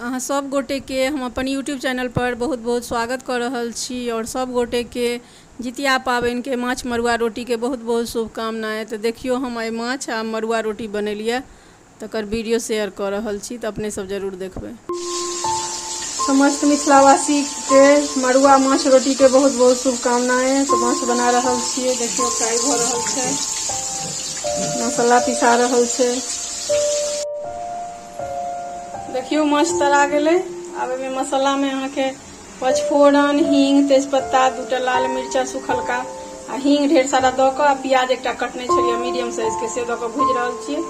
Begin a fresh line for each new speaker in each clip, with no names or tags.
अहाँ सब गोटे के हम अपन यूट्यूब चैनल पर बहुत बहुत स्वागत कऽ रहल छी आओर सब गोटे के जितिया पाबनि के माछ मरुआ रोटी के बहुत बहुत शुभकामना तऽ देखियौ हम आइ माछ आ मरुआ रोटी बनेलिया तकर वीडियो शेयर कऽ रहल छी तऽ अपने सब जरूर देखबै समस्त मिथिलावासी के मड़ुआ माछ रोटी के बहुत बहुत शुभकामनाएं तो माछ बना रहल छियै देखियो फ्राई भ रहल छै मसाला पिसा रहल छै देखियो माछ तरा गेलै आब एहिमे मसालामे अहाँके पचफोरन हींग तेजपत्ता दूटा लाल मिर्चा सुखलका आ हींग ढेर सारा दऽ कऽ आ प्याज एकटा कटने छलियै मीडियम साइजके से दऽ कऽ भूजि रहल छियै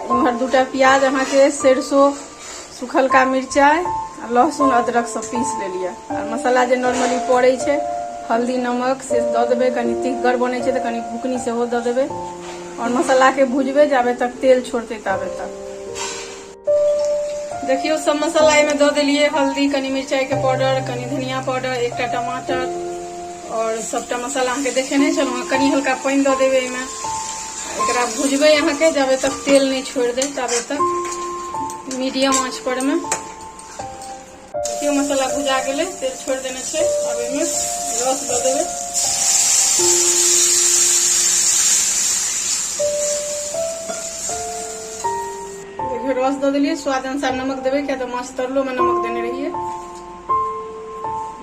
इम्हर दूटा प्याज अहाँके सरसो सुखलका मिरचाइ आ लहसुन अदरक सब पीस लेलियै आ मसाला जे नॉर्मली पड़ै छै हल्दी नमक से दऽ देबै कनि तिखगर बनै छै तऽ कनि बुकनी सेहो दऽ देबै आओर मसालाके भुजबै जाबे तक तेल छोड़तै ताबे तक देखियौ सब मसाला एहिमे दऽ देलियै हल्दी कनि मिरचाइके पाउडर कनि धनिया पाउडर एकटा टमाटर आओर सभटा मसाला अहाँके देखेने छलहुँ हेँ कनि हल्का पानि दऽ देबै एहिमे एकरा भुजबै अहाँके जाबे तक तेल नहि छोड़ि दे ताबे तक मीडियम आँच परमे देखियो मसाला भुजा गेलै तेल छोड़ देने छै अब एहिमे रस दऽ देबै देखियो रस दऽ देलियै स्वाद अनुसार नमक देबै किया तऽ माछ तरलोमे नमक देने रहियै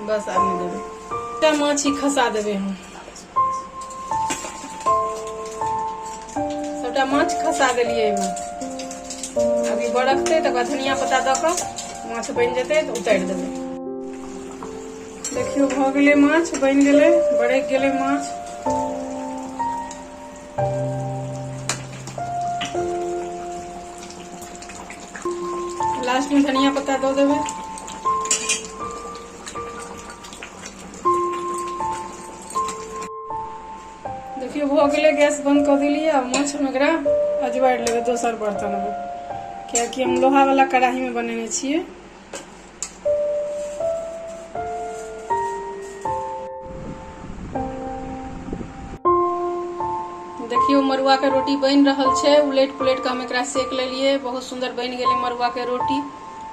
बस आब नहि देबै माछ ही खसा देबै हम सबटा माछ खसा देलिए एहिमे अभी बरकतै तकर बाद धनिया पत्ता दऽ कऽ माछ बनि जेतै तऽ उतारि देबै देखियौ भऽ गेलै माछ बनि गेलै बरकि गेलै माछ लास्टमे धनिया पत्ता दऽ देबै देखियौ भऽ गेलै गैस बन्द कऽ देलियै आ माछमे एकरा अजबारि लेबै दोसर बर्तनमे कियाकि हम लोहावला कढ़ाहीमे बनेने छियै देखियौ मड़ुआके रोटी बनि रहल छै उलटि पुलटि कऽ हम एकरा सेक लेलियै बहुत सुन्दर बनि गेलै मड़ुआके रोटी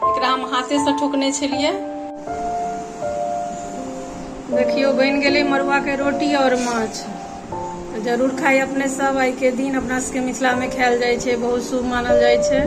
एकरा हम हाथेसँ ठोकने छलियै देखियौ बनि गेलै मड़ुआके रोटी आओर माछ जरूर खाइ अपने सब आइके दिन अपना सबके मिथिलामे खायल जाइ छै बहुत शुभ मानल जाइ छै